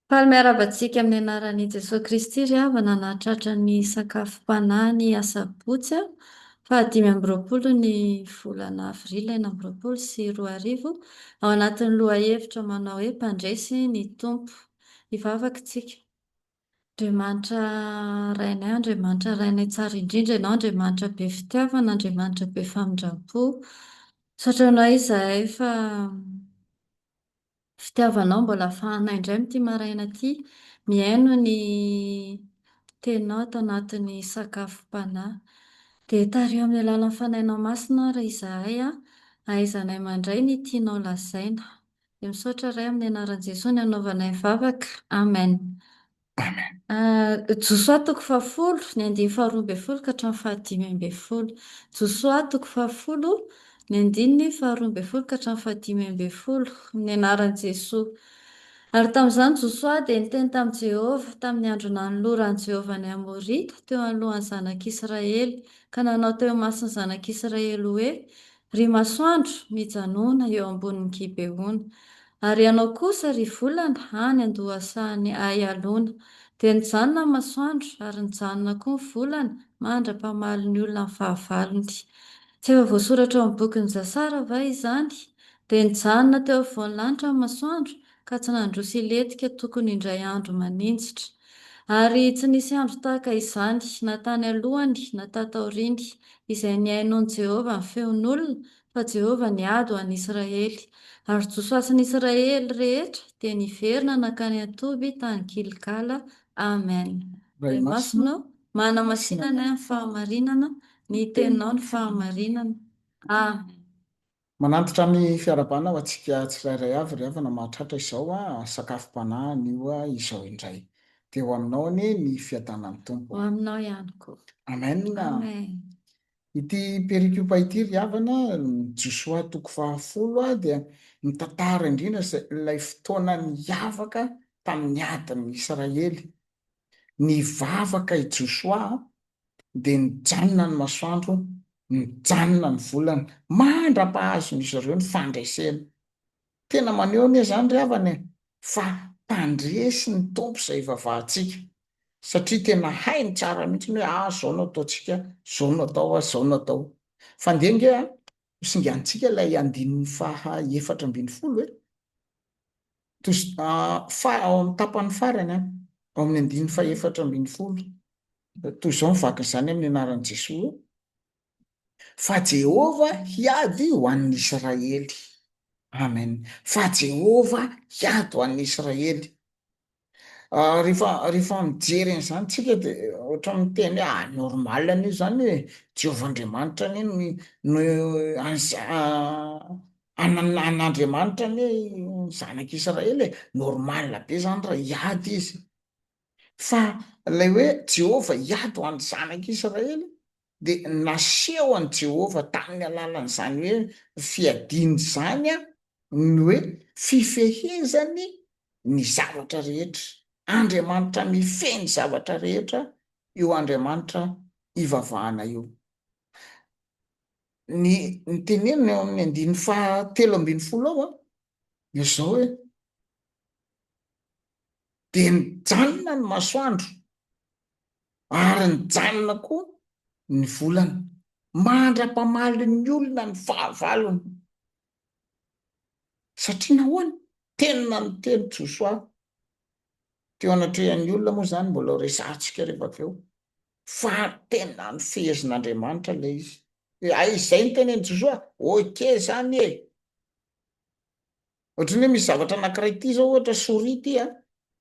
Faly miarahaba antsika amin'ny anaran'i Jesoa Kristy ry havana nahatratra ny sakafom-panahy ny asabotsy faha dimy amby roapolo ny volana avril enina amby roapolo sy roa arivo ao anatin'ny lohahevitra manao hoe Mpandresy ny Tompo. Hivavaka isika. Andriamanitra Rainay, Andriamanitra Rainay Tsara indrindra ianao, Andriamanitra be fitiavana, Andriamanitra be famindram-po. Misaotra anao izahay fa fitiavanao mbola ahafahanay indray amin'ity maraina ity mihaino ny Teninao ato anatin'ny sakafom-panahy. Dia tariho amin'ny alalan'ny Fanahinao Masina àry izahay, ahaizanay mandray ny tianao lazaina. Dia misaotra Ray amin'ny anaran'i Jesoa nanaovanay vavaka. Amen. Amen. Josoa toko fahafolo, ny andininy faharoa ambin'ny folo ka hatramin'ny fahadimy ambin'ny folo. Josoa toko fahafolo, ny andininy faharoa ambin'ny folo ka hatramin'ny fahadimy ambin'ny folo. Amin'ny anaran'i Jesoa. Ary tamin'izany Josoa dia niteny tamin'i Jehovah, tamin'ny andro nanoloran'i Jehovah ny Amorita teo anoloan'ny zanak'Israely, ka nanao teo imason'ny zanak'Israely hoe, Ry masoandro, mijanona eo ambonin'i Gibeona, ary ianao kosa, ry volana, any an-dohasahan'i Aialona. Dia nijanona ny masoandro, ary nijanona koa ny volana, mandra-pamaly ny olona ny fahavalony. Tsy efa voasoratra ao amin'ny bokin'i Jasara va izany? Dia nijanona teo afovoan'ny lanitra ny masoandro, ka tsy nandroso hilentika tokony indray andro maninjitra. Ary tsy nisy andro tahaka izany, na tany alohany na tato aoriany, izay nihainoan'i Jehovah ny feon'olona, fa Jehovah niady ho an'i Israely. Ary Josoasin'ny Israely rehetra dia niverina nankany an-toby tany Gilgala. Amen. Ray Masina, manamasina ny ahy ny fahamarinana, ny Teninao ny fahamarinana. Amen. Manantitra ny fiarahabana ho antsika tsirairay avy ry havana mahatratra izao a! sakafom-panahy anio a! izao indray dia ho aminao anie ny fiadanan'ny Tompo a! Ho aminao ihany koa. Amen a! Amen. Ity perikopa ity ry havana, Josoa toko faha folo a! dia mitantara indrindra izay ilay fotoana niavaka tamin'ny adin'ny Israely. Nivavaka i Josoa dia nijanona ny masoandro, nijanona ny volana, mandra-pahazon'izy ireo ny fandresena. Tena maneho anie izany ry havana e, fa mpandresy ny Tompo izay ivavahantsika, satria tena hainy tsara mihitsy ny hoe ah, izao no ataontsika, izao no atao ah, izao no atao. Fa ndeha ange ah, hosinganintsika ilay andininy faha efatra ambin'ny folo e. Fa ao amin'ny tapany farany, ao amin'ny andininy fahefatra ambin'ny folo, toy izao ny vakin'izany amin'ny anaran'i Jesoa hoe, Fa Jehovah hiady ho an'ny Israely. Amen. Fa Jehovah hiady ho an'ny Israely. Rehefa rehefa mijery an'izany tsika de ohatra miteny hoe ah normal anie zany e, Jehovah Andriamanitra anie no no anana an'Andriamanitra anie ny zanak'Israely e, normal be zany raha hiady izy, fa lay hoe Jehovah hiady ho an'ny zanak'Israely dia nasehon'i Jehovah tamin'ny alalan'izany hoe fiadiany izany ny hoe fifehezany ny zavatra rehetra. Andriamanitra mifehy ny zavatra rehetra io Andriamanitra ivavahana io. Ny ny tenenina eo amin'ny andininy fahatelo ambin'ny folo ao dia izao hoe dia nijanona ny masoandro Ary nijanona koa ny volana. Mandra-pamaly ny olona ny fahavalony. Satria nahoana? Tena niteny Josoa teo anatrehan'ny olona moa izany, mbola ho resahantsika rehefa avy eo, fa tena nifehezin'Andriamanitra ilay izy. Dia izay ny tenenin'i Josoa, ok izany e! Ohatran'ny hoe misy zavatra anankiray ity izao ohatra souris ity a,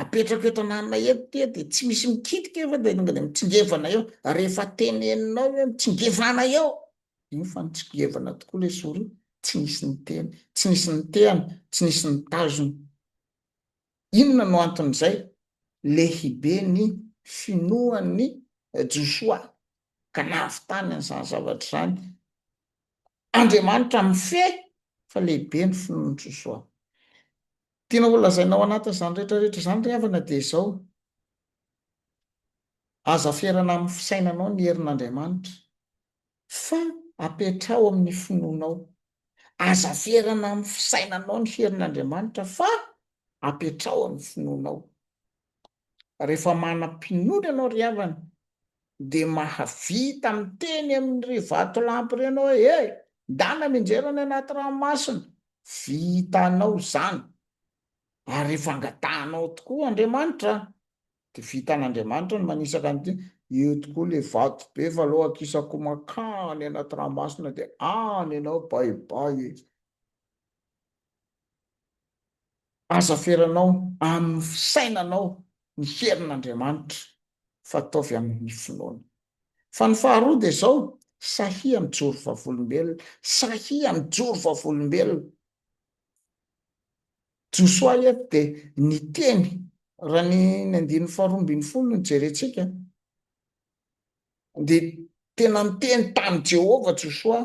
apetrako eto anananay eto ity a, dia tsy misy mikitika io fa dia tonga dia mitsingevana eo, ary rehefa teneninao hoe mitsingevana eo, iny fa nitsingevana tokoa ilay souris, tsy nisy niteny, tsy nisy nitehana, tsy nisy nitazona. Inona no anton'izay? Lehibe ny finoan'i Josoa ka nahavitany an'izany zavatra izany. Andriamanitra mifehy fa lehibe ny finoan'i Josoa. Tiana holazaina ao anatin'izany rehetra rehetra izany ry havana dia izao, Aza ferana amin'ny fisainanao ny herin'Andriamanitra fa apetraho amin'ny finoanao. Aza ferana amin'ny fisainanao ny herin'Andriamanitra fa apetraho amin'ny finoanao. Rehefa manam-pinoana ianao ry havana dia mahavita miteny amin'ireny vatolampy ireny hoe he! ndana minjera any anaty ranomasina. Vitanao izany. Ary rehefa angatahanao tokoa Andriamanitra dia vitan'Andriamanitra ny manisaka an'ity, eo tokoa ilay vato be fa aleo akisako mankany anaty ranomasina dia any ianao bye bye e! Aza feranao amin'ny fisainanao ny herin'Andriamanitra fa ataovy amin'ny finoana. Fa ny faharoa dia izao, sahia mijoro vavolombelona, sahia mijoro vavolombelona. Josoa eto dia niteny, raha ny ny andininy faharoa ambin'ny folo no jerentsika, Dia tena niteny tamin'i Jehovah Josoa,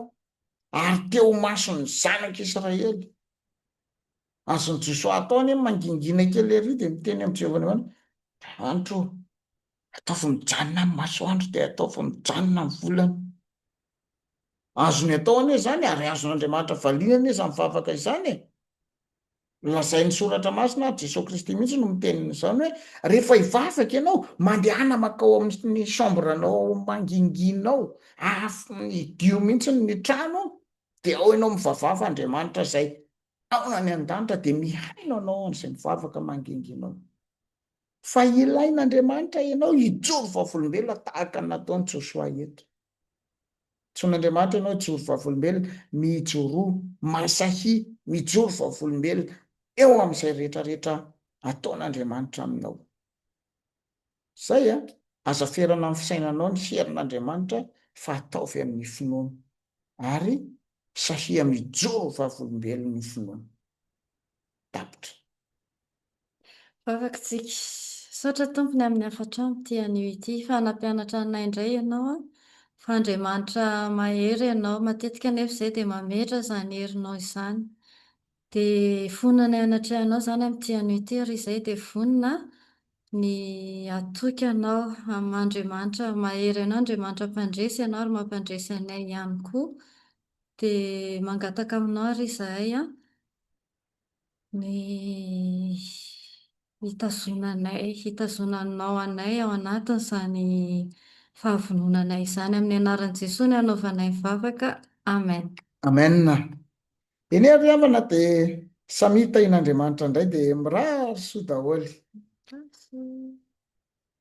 ary teo imason'ny zanak'Israely. Azon'i Josoa atao anie ny mangingina kely ery dia miteny amin'i Jehovah ny hoe, Andro ô, ataovy mijanona ny masoandro dia ataovy mijanona ny volana. Azony atao anie izany, ary azon'Andriamanitra valiana anie izany vavaka izany e! Lazain'ny soratra masina ary Jesoa Kristy mihitsy no miteny izany hoe rehefa hivavaka ianao, mandehana makao amin'ny chambre anao ao manginginao, hidio mihitsy ny trano, dia ao ianao mivavava Andriamanitra izay ao any an-danitra dia mihaino anao an'izay mivavaka manginginao. Fa ilain'Andriamanitra ianao hijoro vavolombelona tahaka ny nataon'i Josoa eto. Antsoin' Andriamanitra ianao hijoro vavolombelona, mijoroa, masahia, mijoro vavolombelona eo amin' izay rehetra rehetra ataon' Andriamanitra aminao. Izay a! Aza ferana amin' ny fisainanao ny herin' Andriamanitra fa ataovy amin' ny finoana ary sahia mijoro vavolombelon' ny finoana. Tapitra. Vavakitsika. Misaotra tompony amin'ny hafatra amin'ity anio ity fa nampianatra anay indray ianao an! Fa Andriamanitra mahery ianao, matetika anefa izay dia mametra izany herinao izany. Dia vonona ny hanatrehanao izany amin'ity anio ity ary izay dia vonona ny hatoky anao amin'Andriamanitra mahery anao, Andriamanitra mpandresy ianao ary mampandresy anay ihany koa. Dia mangataka aminao ary izahay an! ny hitazonanay, hitazonanao anay ao anatin'izany fahavononanay izany. Amin'ny anaran'i Jesoa no anaovanay vavaka. Amen. Amen. Eny ary havana dia samia tahin'Andriamanitra indray dia mirary soa daholo.